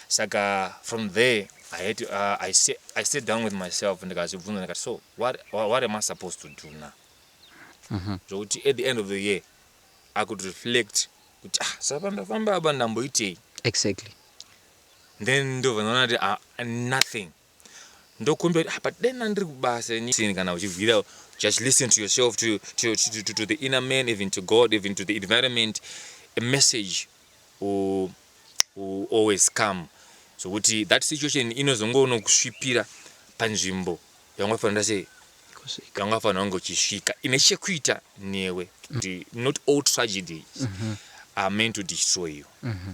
saka from there I had to, uh, I, sa- I sat down with myself ndikazvibvunza ndikati so what, what, what am I supposed to do now zvokuti at the end of the year I could reflect kuti ah, sapa ndafamba apa ndamboitei exactly then ndobva ndaona kuti ah, nothing ndokumbira kuti ah, but dai ndandiri kubasa ini kana uchibvira just listen to yourself to, to, to, to, to the inner man even to god even to the environment a message will, will always come zvokuti so, that situation inozongoono kusvipira panzvimbo yangafanira sei yangafanira wange uchisvika ine chekuita newe mm. not all tragedies mm -hmm. are meant to destroy you mm -hmm.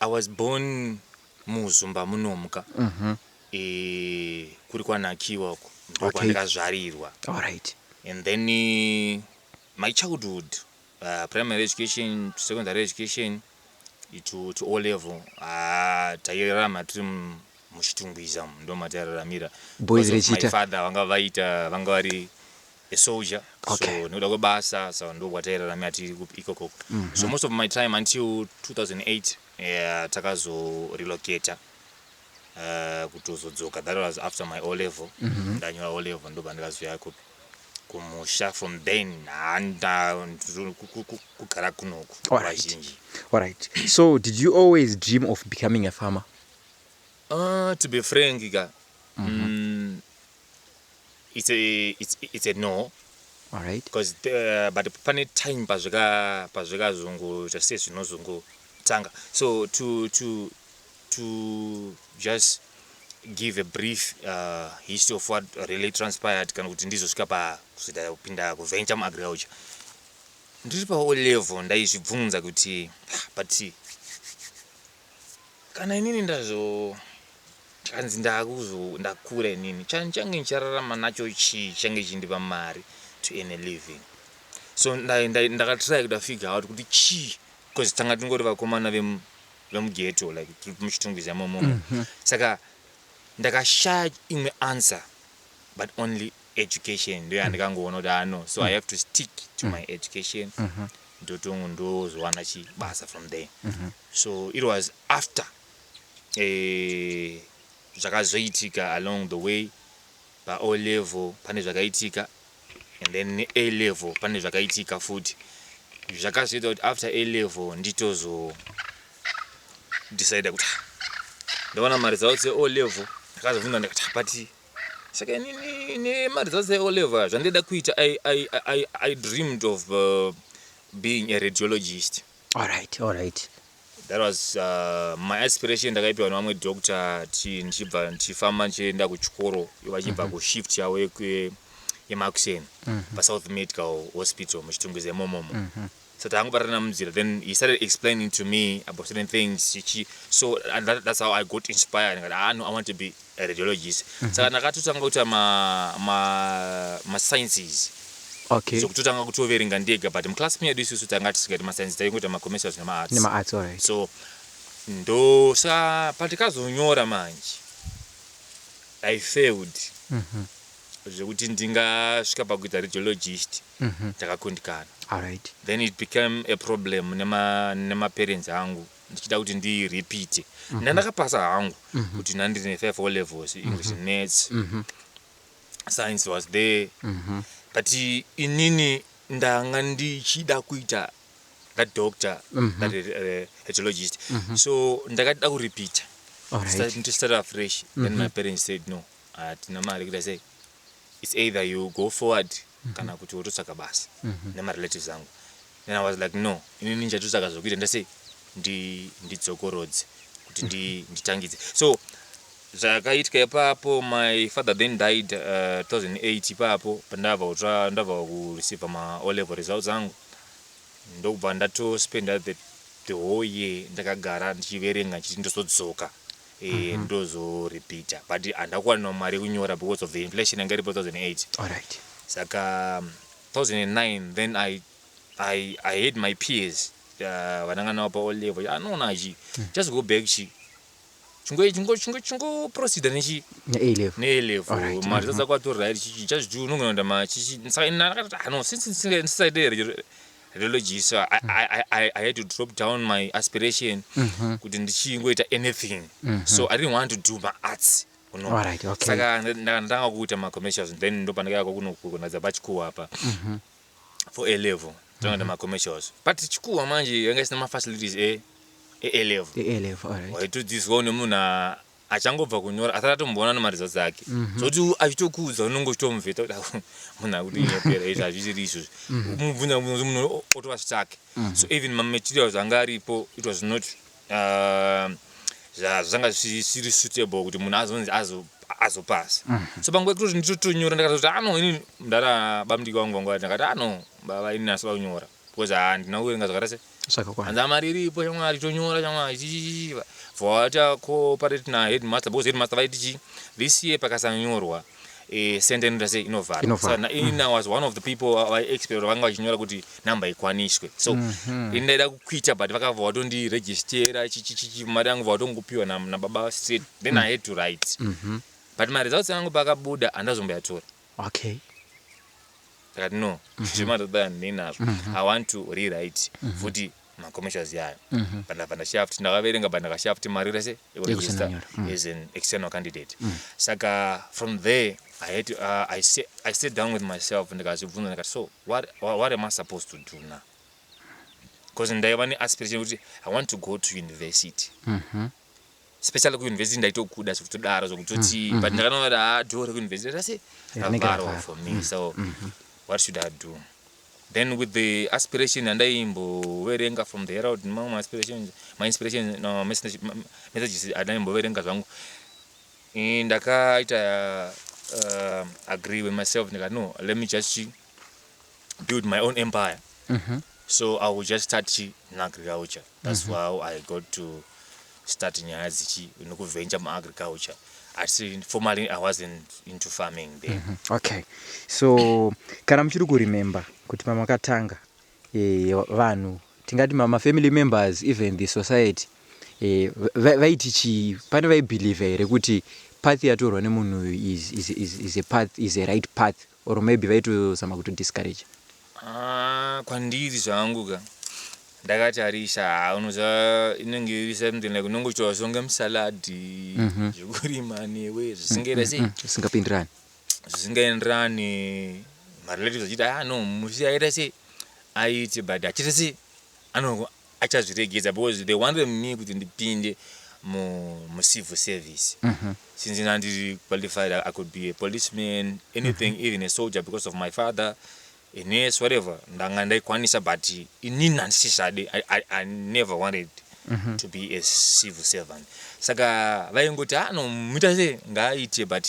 I was born muzumba munomka mm -hmm. e, kuri kwanakiwa uko ndokwandikazvarirwa okay. right. and then e, my childhood uh, primary education secondary education to, to o level uh, tairarama tiri muchitungwiza mu ndomatairaramira boys rechita father vanga vaita vanga vari a soldier okay. so nekuda kwebasa so ndokwatairaramira tiri ikoko mm -hmm. so most of my time until 2008 yeah, takazorelocator uh, kutozodzoka that was after my o level mm -hmm. ndanyora o level ndobva ndikazoya kupi kumusha from then handa kugara kunoku vazhinji alright so did you always dream of becoming a farmer uh, to be frank ka mm -hmm. mm, it's a, it's, it's a no alright because uh, but pane time pazvika pazvikazungu zvese zvinozungu tanga so to to to just give a brief uh, history of what really transpired kana kuti ndizosvika pakuzvida kupinda kuventure muagriculture ndiri paolevel ndaizvibvunza kuti ah, but Kana inini ndazonzi ndakura inini chandichange ndichararama nacho chii chichange chindipa mari to earn a living so ndakatry kuda figure out kuti chii because tanga tingori vakomana vemugeto like tiri muchitungwiza momo mhm. saka ndakashaya imwe answer but only education ndiyo yandikangoona kuti haa no so i have to stick to my education ndotongo ndozowana chibasa from there so it was after eh, zvakazoitika along the way pao level pane zvakaitika and then a level pane zvakaitika futi zvakazoita kuti after a level nditozo decide kuti "Ah, ndaona mari dzavo dze o level ndakazobvunza ndikati "Ah, but saka inini nemaredzasi eoleva zvandaida kuita I, I, I, i dreamed of uh, being a radiologist alright alright that was uh, my aspiration ndakaipiwa nevamwe doctor ti ndichibva ndichifamba ndichienda kuchikoro vachibva mm -hmm. kushift yavo yemakuseni mm -hmm. pasouth medical hospital muchitungwiza imomomo mm -hmm. so takangobatana munzira then he started explaining to me about certain things chichi so and that, that's how i got inspired ngati ah no i want to be a radiologist mm -hmm. saka ndakatotanga kuita ma, ma, ma sciences okay. zvokutotanga kutoverenga ndega but muclass medu isusu tanga tisikati mascience taingoita macommercials nemaarts nemaarts alright so ndosa patikazonyora manje i failed mm -hmm. zvekuti ndingasvika pakuita radiologist mm -hmm ndakakundikana Alright. then it became a problem nema nemaparents angu ndichida kuti ndirepeate ndandakapasa hangu kuti ndandiri nefair four levels english and maths science was there but inini ndanga ndichida kuita that doctor that uh, hetologist so ndakada kurepeata Alright. to start afresh then my parents said no hatina mari kuita sei it's either you go forward mm -hmm. kana kuti wototsvaga basa mm -hmm. nemarelatives angu then i was like no inini ndichatotsvaga zvokuita ndasei ndidzokorodze ndi kuti ndi, mhm. nditangidze so zvakaitika ipapo my father then died uh, 2008 ipapo pandava kutsva ndava kureceive maolevel results angu ndokubva ndatospenda the, the whole year ndakagara ndichiverenga ndichiti ndozodzoka eh, ndozorepeater but handina kuwana mari yekunyora because of the inflation yanga iripo 2008 Alright. saka um, 2009 then i i i had my peers uh, vananga navo pa all level ah no nachi just go back chi chingo chingo chingo chingo proceeder nechi Ne-A level. ne A level Alright, mari dzadza kwato right chichi just do unongoenda ma chichi saka ini ndakati ah no since ndisinga- ndisaite re- religious I, mm. I, I, I, I had to drop down my aspiration mm -hmm. kuti ndichingoita anything mm -hmm. so i didn't want to do my arts saka ndanga kuita macommercials then ndopandakaya kwakunokunadza pachikuwa apa mhm. for a level tinoenda mhm. macommercials but chikuwa manje yanga isina mafacilities e, e-level waitodzidziswawo nemunhu achangobva kunyora asati atomboona nemaresults ake zvoti achitokuudza unenge uchitomuvheta kuti "Awu, munhu akutinyepera izvi hazvisiri izvozvi mubvunza mubvunza kuti munhu o- otova stuck so even mamaterials anga aripo it was not uh, zva- zvanga zvisiri suitable kuti munhu azonzi azo- azopasa so panguva yekutoti nditotonyora ndakatoti ano ini mdara bamdiki wangu vangu vati ndakati ano baba ini asi vakunyora because haa handina kuverenga zvakaita sei Zvakakwana. hanzi haa mari iripo shamwari tonyora shamwari chichichichi bva waita cooperate naheadmaster because headmaster vaiti chii this year pakasanyorwa eh, center inoita sei inovharwa Inovharwa. Saka na- ini i was one of the people vaexpect vanga vachinyora kuti number ikwaniswe so ini ndaida kukwita but vakabva vatondiregistera chichichichi mari yangu bva vatongopiwa na- nababa straight then i had to write but maresults angu paakabuda handazomboyatora Okay. Ndikati no, zvichema ndatoda ndinazvo. I want to rewrite futi ma commercials yayo. But ndabva ndashaya futi ndakaverenga but ndakashaya futi mari rese yekuregister as an external candidate. Saka from there I had to, uh, I, sa- I sat down with myself ndikazvibvunza ndikati so what, what, what am I supposed to do now? Because ndaiva ne aspiration yekuti I want to go to university. especially kuuniversity ndaitokuda zvekutodaro zvekutoti mm, mm, but mm. ndakanoona kuti haa door rekuuniversity rase ravharwa for me mm, so mm, mm. what should i do then with the aspiration andaimboverenga from the herald nemamwe maaspirations mainspiration no, messages andaimboverenga zvangu eh, ndakaita uh, agree with myself ndikati no let me just build my own empire mm -hmm. so i will just start agriculture That's how I got to start nyaya dzichi nekuventure muagriculture asi formally I wasn't into farming then. Okay, so kana muchiri kuremember kuti pamakatanga eh, vanhu tingati ma ma family members even the society eh, va- vaiti chii pane vaibelieve here kuti path yatorwa nemunhu uyu is, is, is, is a path is a right path Or maybe vaitozama kuto discourager. Aah kwandiri zvangu ka ndakatarisa haa unoziva inenge iri something like unongoitawo songe musalad zvekurima newe zvisingaita sei Zvisingapindirani. zvisingaenderani marelatives achiti ah no musi aita sei aite but achiita sei ano achazviregedza because they wanted me kuti ndipinde mu, mu civil service mm -hmm. since ndandiri qualified i could be a policeman anything mm -hmm. even a soldier because of my father a nurse whatever ndanga ndaikwanisa but inini handisichade I, I, i never wanted mm -hmm. to be a civil servant saka vaingoti ano ah, muita se ngaaite but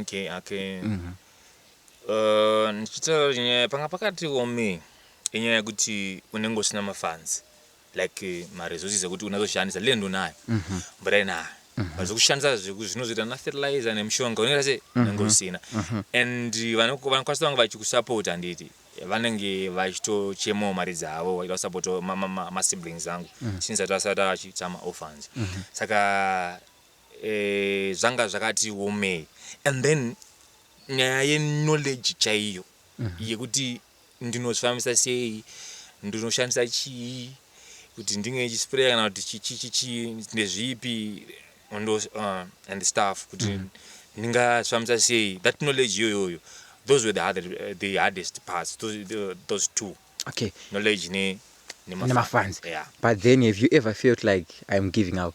Okay, okay. Mm -hmm. Uh, ndichitaura nyaya panga pakati wome inyaya yekuti unenge usina mafanzi like eh, maresources ekuti unazoshandisa land unayo mm -hmm. but aina mm -hmm. zvekushandisa zvinozoita nafertilizer nemushonga unenge se mhm. unenge usina mm -hmm. and vanokwanisa vanga vachikusapota handiti vanenge vachitochemawo mari dzavo vaida kusapota masiblings angu mm -hmm. since atasati achitama orphans mm -hmm. saka zvanga zvakati womei and then nyaya yeknowledge chaiyo yekuti ndinozvifambisa sei ndinoshandisa chii kuti ndinge ndichisprayer kana kuti chichichichii ndezvipi uh, and stuff kuti mm. ndingazvifambisa sei that knowledge iyoyoyo those were the, hard, uh, the hardest parts those, the, those two okay. knowledge ne, ne, ne mafans yeah. but then have you ever felt like i'm giving up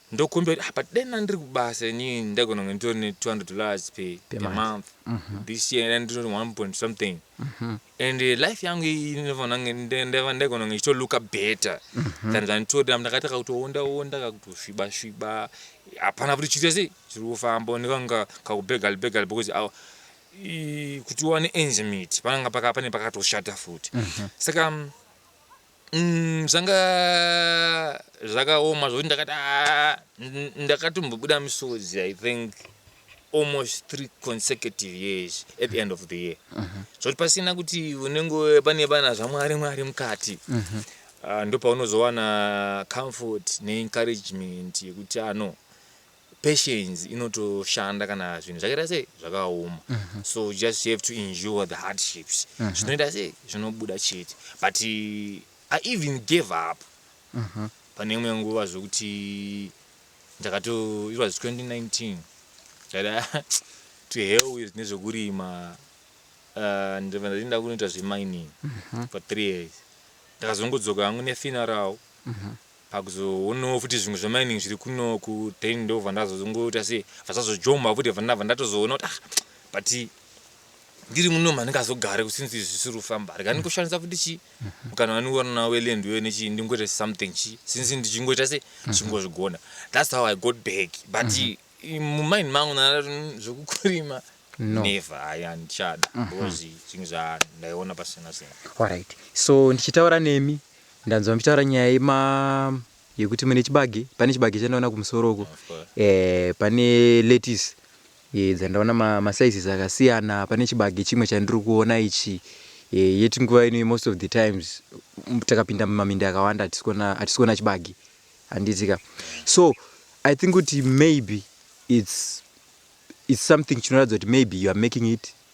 Ndokumbira kuti ah, but dai ndandiri kubasa ini ndaigona kunge nditori ne 200 dollars pe, per Pemanje. month Mhm. this year and nditori 1 point something Mhm. and eh, life yangu iyi ndinofanira kunge nda- ndava- ndaigona kunge ndichito looka better Mhm. than zvanditori apa ndakataka kutoonda onda kakutosviba sviba hapana kuti chiri chese chiri kufamba ndikanga kakubegal begal because aw- i- kuti uwane ends meet pananga paka- pane pakatoshata futi Mhm. saka mm, Umm zvanga zvakaoma zvekuti ndakati aah ndakatombobuda misodzi i think almost three consecutive years at the end of the year zvekuti pasina kuti unenge pane vana zvamwari mwari mukati Ah, ndopaunozowana comfort neencouragement yekuti ano patience inotoshanda kana zvinhu zvakaita sei zvakaoma mm -hmm. so you just have to endure the hardships mm -hmm. zvinoita sei zvinobuda chete but i even gave up mm -hmm. pane imwe nguva zvekuti ndakato it was 2019 ndada to hell with nezvekurima uh, ndibva ndatiinda kunoita zvemining mm -hmm. for three years ndakazongodzoka hangu nefinarao mm -hmm. Pakuzoonawo futi zvimwe zvemining zviri kunoku then ndobva ndazozongoita sei vasazojomba futi bva ndabva ndatozoona kuti ah but ndiri munomu handingazogare since izvi zvisiri kufamba rega ndingoshandisa futi chii mukana wandingoona weland uyo nechii ndingoita something chii since ndichingoita sei ndichingozvigona that's how i got back but mumind mangu ndandati "Mm, zvekukurima No. never hayi handichada because zvinhu zvandaiona pasina sina Alright. So ndichitaura nemi Ndanzwa muchitaura nyaya yema yekuti mune chibage pane chibage chandaona kumusoro uko eh, pane lettuce eh, dzandaona ma, ma sizes akasiyana pane chibage chimwe chandiri kuona ichi eh, yet nguva ino most of the times mm, takapinda mumaminda akawanda hatisikuona chibage handitika so i think kuti maybe it's, it's something chinoratidza kuti maybe you are making it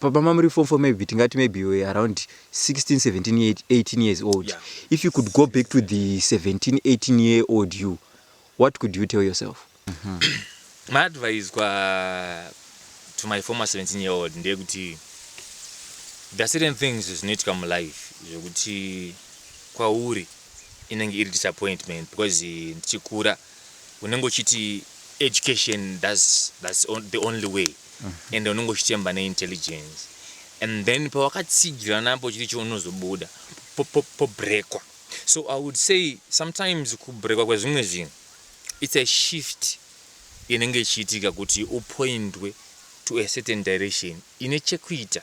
Baba mamuri form four maybe tingati maybe you were around 16, 17, 18 years old. Yeah. If you could go back to the 17, 18 year old you, what could you tell yourself? Mm -hmm. my advice kwa to my former 17 year old ndeyekuti there are certain things zvinoitika mulife zvekuti kwauri inenge iri disappointment because ndichikura uh, unenge uchiti education thats thats on, the only way ende unenge uchitemba neintelligence and then pawakatsigira napo uchiti cho unozobuda po- po- pobrekwa so i would say sometimes kubrekwa kwezvimwe zvinhu it's a shift inenge ichiitika kuti upointwe to a certain direction ine chekuita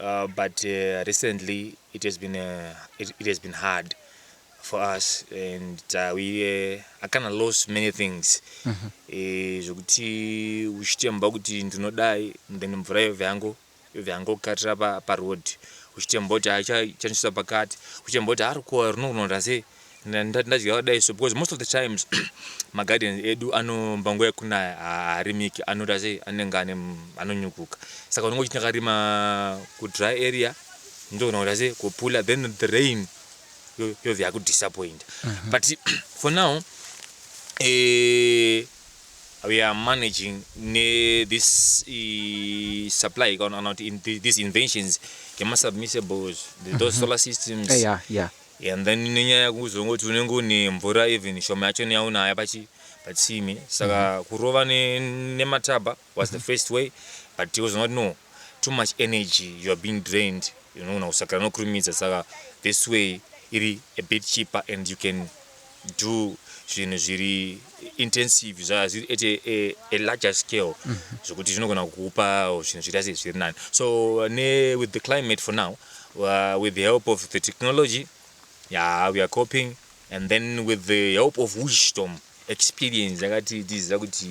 Uh, but uh, recently it has been uh, it, it, has been hard for us and uh, we uh, I kind of lost many things mm-hmm. eh, zvekuti uh, uchitemba kuti ndinodai then mvura yove yangu yove yangu kukatira pa, pa road uchitemba kuti achanisvisa pakati uchitemba kuti arikuwa rinokunonda sei ndadya dai so because most of the times magarden edu anomba nguva yekunaya haarimiki anoita sei anenge ane anonyukuka saka unenge uchiti akarima kudry area ndogona kuita sei kupula then the rain yobva yakudisappoint mhm. but for now eh, we are managing ne this uh, supply kana kuti in, these inventions yemasubmissibles those mhm. solar systems yeah, yeah. And then nenyaya yekuzongoti unenge une mvura even shoma yachona yaunayo pachi patsime saka kurova ne nemataba was the first way but uzoona kuti no too much energy you are being drained unogona kusakira nokurumidza saka this way iri a bit cheaper and you can do zvinhu zviri intensive zvazviri at a, a, a larger scale mm -hmm. zvokuti zvinogona kukupa zvinhu zviri asi zviri nani so ne with the climate for now uh, with the help of the technology yeah we are coping and then with the help of wisdom experience yakati tiziva kuti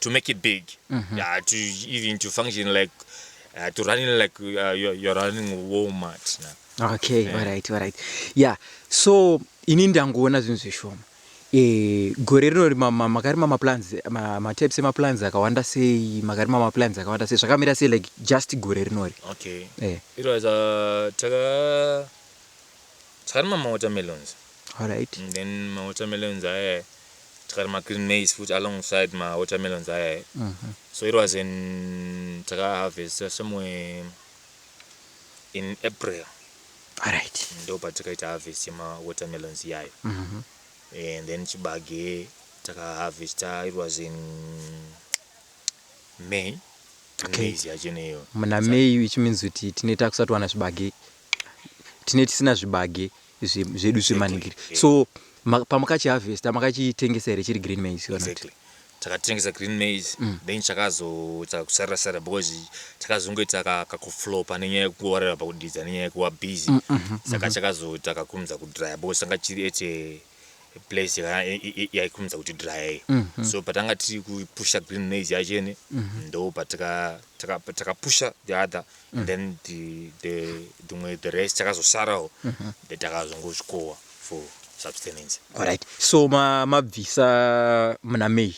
to make it big mm -hmm. yeah, to even to function like uh, to running like uh, you're, you're running walmart now. okay yeah. alright alright yeah so ini ndangoona zvinhu zvishoma e, gore rino makarima maplans matypes emaplans akawanda sei makarima maplans akawanda sei zvakamira sei like just gore rinori okay. yeah. it was, uh, taka... Tikarima ma watermelons. Alright. And then ma watermelons aya tikarima green maize futi alongside ma watermelons aya. Uh mhm. -huh. So it was in taka harvesta somewhere in April. Alright. Ndo patakaita harvest yema watermelons iyayo. Uh mhm. -huh. Eh, and then chibage takaharvesta it was in may okay. maize yacho neyo muna may which means kuti tine takusati wana zvibage tine tisina zvibage zvedu zvemanikiri so pamakachi harvesta makachitengesa here chiri green maize kana kuti takatengesa green maize mm. then chakazoita kusarira sarira because chakazongoita kakuflopa nenyaya yekuwarira pakudidza nenyaya yekuwa busy mm, mm, saka chakazoita kakumza kudrya because tanga chiri ete place yakana- i- i- i- yaikumidza kuti dryer iyo so patanga tiri kupusha green maize yachene ndo patika- taka- takapusha the other and then the- the- dzimwe the rest takazosarawo then takazongozvikowa for substance alright so ma- mabvisa muna may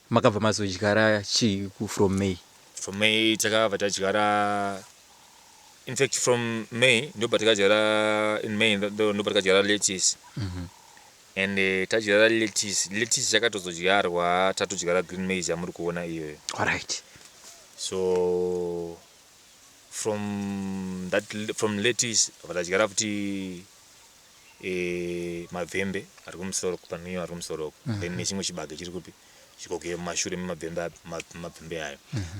Makabva mazodyara chii ku from May? From May takabva tadyara in fact from May ndobva takadyara in May ndobva takadyara lettuce and eh, tadyara lettuce lettuce yakatozodyarwa tatodyara green maize yamuri kuona iyoyo Alright. so from that from lettuce bva tadyara futi mabvembe ari kumusoro uku panonwiwa ari kumusoro uku then nechimwe chibage chiri kupi chikoke mumashure memabvembe api ma- mabvembe ayo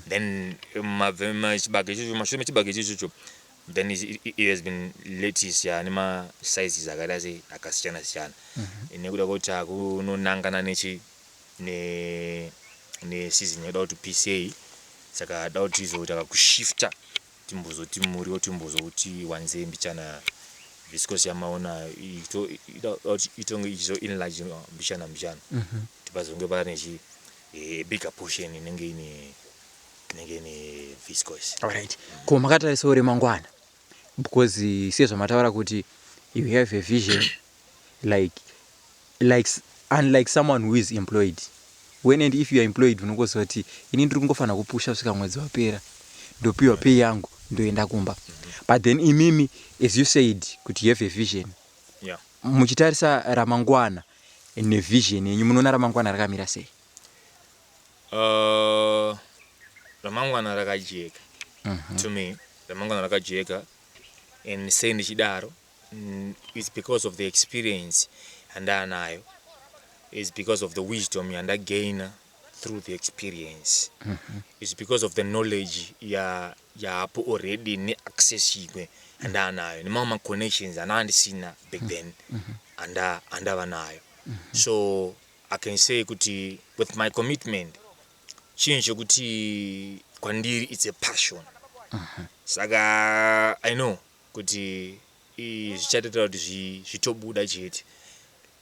then mabve- ma- chibage ichocho mashure mechibage ichocho then it, it, it has been lettuce ya ane masizes akaita sei akasiyana siyana nekuda kwekuti akunonangana nechi ne neseason yakuda kuti pisei saka da kuti tizoita kakushifta timbozoti muriwo timbozouti wanzei mbichana viscos yamaona itonge ichizo enlarge mbichana mbichana mhm. kuti pazonge pava nechi eh, bigger portion inenge ine inenge ine viscos alright ko makatarisa uri mangwana because sezvamataura kuti you have a vision like like unlike someone who is employed when and if youare employed unongoziva kuti ini ndiri kungofanira kupusha kusvika mwedzi wapera ndopiwa pay yangu ndoenda kumba but then imimi as you said kuti you have a vision yeah. muchitarisa ramangwana nevision yenyu munoona ramangwana rakamira sei uh, ramangwana rakajeka uh mhm. -huh. to me ramangwana rakajeka and sei ndichidaro It's because of the experience yandaanayo. It's because of the wisdom yandagainer through the experience. Mm -hmm. It's because of the knowledge ya yaapo already neaccess imwe yandaanayo nemamwe maconnections anaa ndisina back mm-hmm. then mm -hmm. anda andava nayo. Mm -hmm. So I can say kuti with my commitment chinhu chekuti kwandiri it's a passion. Mm -hmm. Saka I know kuti ii zvichatoita kuti zvitobuda chete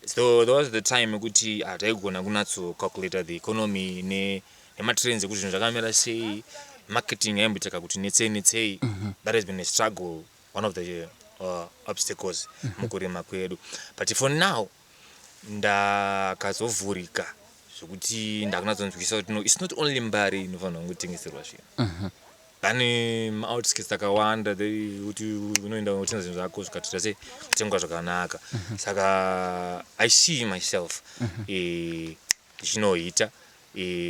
so there was the time ekuti hataigona ah, kunatso calculator the economy ne nematrends ekuti zvinhu zvakamira sei marketing yaimboitaka kuti netsei netsei mhm. that has been a struggle one of the uh, obstacles mhm. mukurima kwedu but for now ndakazovhurika zvekuti ndakunatsonzwisisa kuti no its not only mbari inofanirwa kungotengeserwa zvinhu pane maoutskits akawanda kuti unoenda unotenga zvinhu zvako zvikatoita sei kutengwa zvakanaka saka i see myself ndichinoita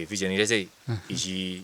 vision ita sei ichi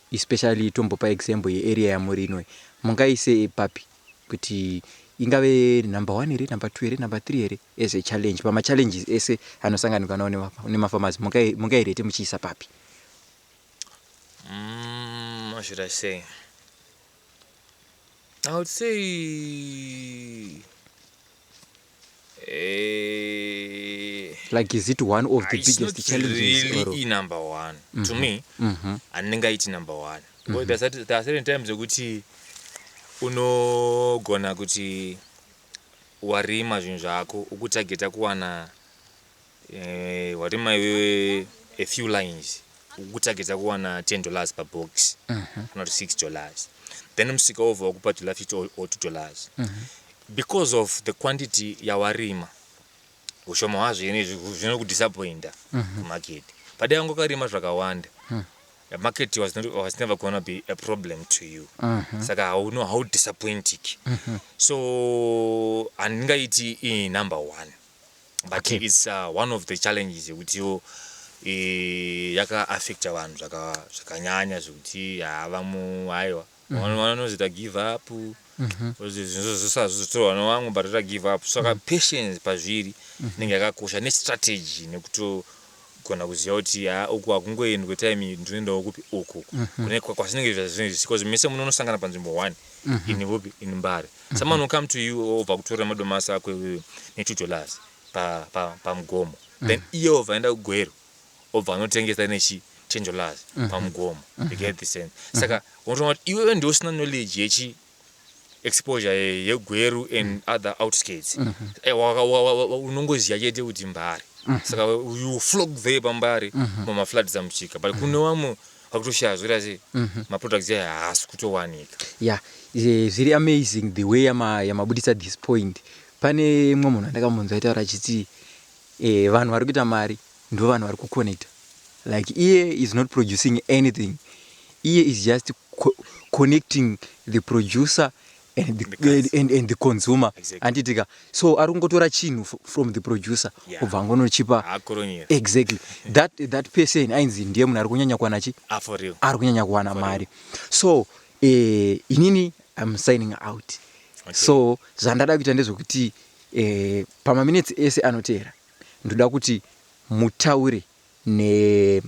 Especially tombopa example ye area yamuri ino iyi mungaise papi kuti ingave number one here, number two here, number three here as a challenge pama challenges ese anosanganikwa nawo nema farmers mungairate muchiisa papi? Umm how should I say I would say Eh, like is it one of the it's not biggest challenges really or i number one to me Mhm. handingaiti number one Because there are certain- there are certain times zvokuti unogona kuti warima zvinhu zvako ukutageta kuwana Eh, warima iwewe a few lines ukutsvagidza kuwana 10 dollars pabox kana kuti 6 dollars then musika wobva wakupa dollar 50 or- or 2 dollars because of the quantity yawarima ushoma hwazvo ine zvi- zvinokudisappointa kumarket padai wangu karima zvakawanda the market was, not, was never gonna be a problem to you saka hauno haudisappointiki so handingaiti iyi number one but Okay. its uh, one of the challenges yekutiwo eh, yakaaffecta vanhu zvaka- zvakanyanya zvekuti haa vamwe aiwa Vano- vanozoita give up zvinozozvitora vana vamwe but ota give up saka patience pazviri inenge yakakosha nestrategy nekuto Kugona kuziva kuti haa uku hakungoendwe time iyi ndinoendawo kupi uku kune kwazvinenge zvazvinenge zvichi coz mese munonosangana panzvimbo one in kupi in Mbare someone will come to you obva kutorera madomasi ako iwewe netudollars pa pa pamugomo then iye obva aenda kuGweru obva anotengesa nechi ten dollars pamugomo you get the sense saka unotoona kuti iwewe ndiwe usina knowledge yechi exposure yegweru and mm. other outskirts mm -hmm. unongoziva chete kuti mbare mm -hmm. saka you flog there pambare mm -hmm. mamafloods amuchika but mm -hmm. kune vamwe vakutoshaya zvoita sei mm -hmm. maproducts ayo haasi kutowanika ya yeah. zviri amazing the way yamabudisa this point pane mwe munhu andakamhunzwa itaura achiti eh, vanhu vari kuita mari ndovanhu vari kuconnector like iye is not producing anything iye is just co connecting the producer and the, and, and, and the consumer handitika exactly. so ari kungotora chinhu from the producer yeah. obva angonochipa exactly that, that person ainzi ndiye munhu ari kunyanya kuwana chi ah, ari kunyanya kuwana mari so eh, inini im signing out okay. so zvandada kuita ndezvekuti eh, pamaminetsi ese anoteera Ndoda kuti mutaure ne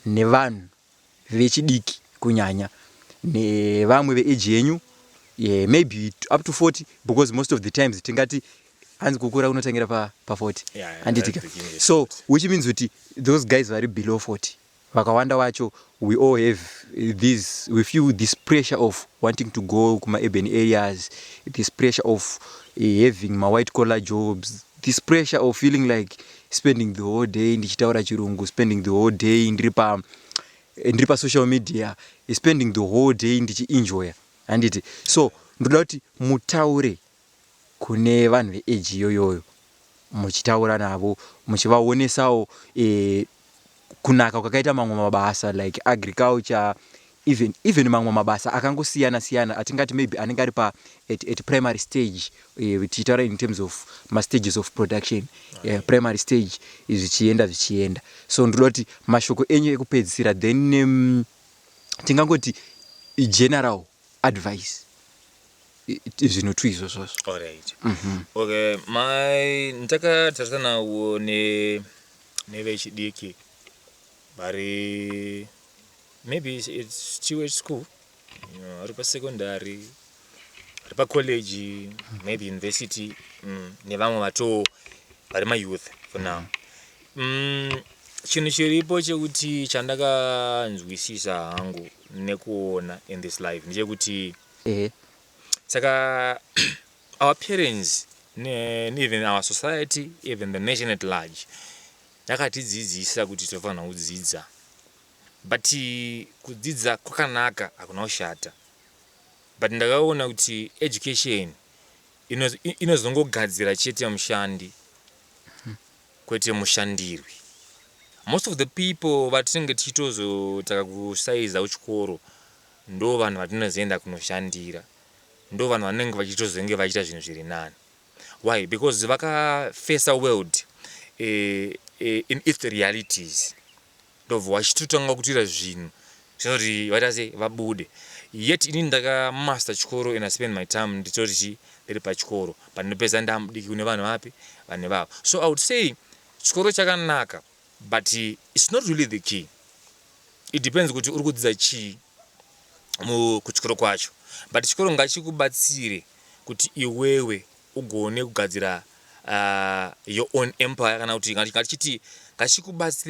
nevanhu vechidiki kunyanya nevamwe ve age yenyu yeah, maybe up to 40 because most of the times tingati hanzi kukura kunotangira pa, pa 40 yeah, handitika so which means kuti those guys vari below 40 Vakawanda wacho we all have these we feel this pressure of wanting to go kuma urban areas this pressure of having ma white collar jobs this pressure of feeling like spending the whole day ndichitaura chirungu spending the whole day ndiri pa ndiri pa social media spending the whole day ndichienjoya handiti so ndoda kuti mutaure kune vanhu ve age iyoyoyo muchitaura navo muchivaonesawo kunaka kwakaita mamwe mabasa like agriculture even even mamwe mabasa akangosiyana siyana atingati maybe anenge ari pa at, at primary stage tichitaura in terms of ma stages of production uh, primary stage zvichienda zvichienda so ndinoda kuti mashoko enyu ekupedzisira then um, tingangoti general advice zvinhu two izvozvo alright mhm. okay mai ndakatarisana nawo ne nevechidiki vari maybe it's chiwe school ari pasecondary ari pacollege maybe university mm, nevamwe vatoo vari mayouth for now mm. Mm, chinhu chiripo chekuti chandakanzwisisa hangu nekuona in this life ndechekuti ehe saka our parents ne, ne even our society even the nation at large yakatidzidzisa kuti tinofanira kudzidza but kudzidza kwakanaka hakuna kushata but ndakaona kuti education ino- i- inozongogadzira chete mushandi Kwete mushandirwi. Most of the people vatinenge tichitozotaka kusaiza kuchikoro ndovanhu vatinozoenda kunoshandira. Ndovanhu vanenge vachitozenge vachiita zvinhu zviri nani. Why? Because vakafesa world in its realities. ndobva wachitotanga kutoita zvinhu zvinoti vaita sei vabude yet inini ndakamaster chikoro and I spend my time nditori chii ndiri pachikoro but ndopedza ndamudiki kune vanhu vapi vanhu ivavo so I would say chikoro chakanaka but it's not really the key it depends kuti uri kudzidza chii mu- kuchikoro kwacho but chikoro ngachikubatsire kuti iwewe ugone kugadzira uh, your own empire kana kuti ngati- ngatichiti ngachikubatsire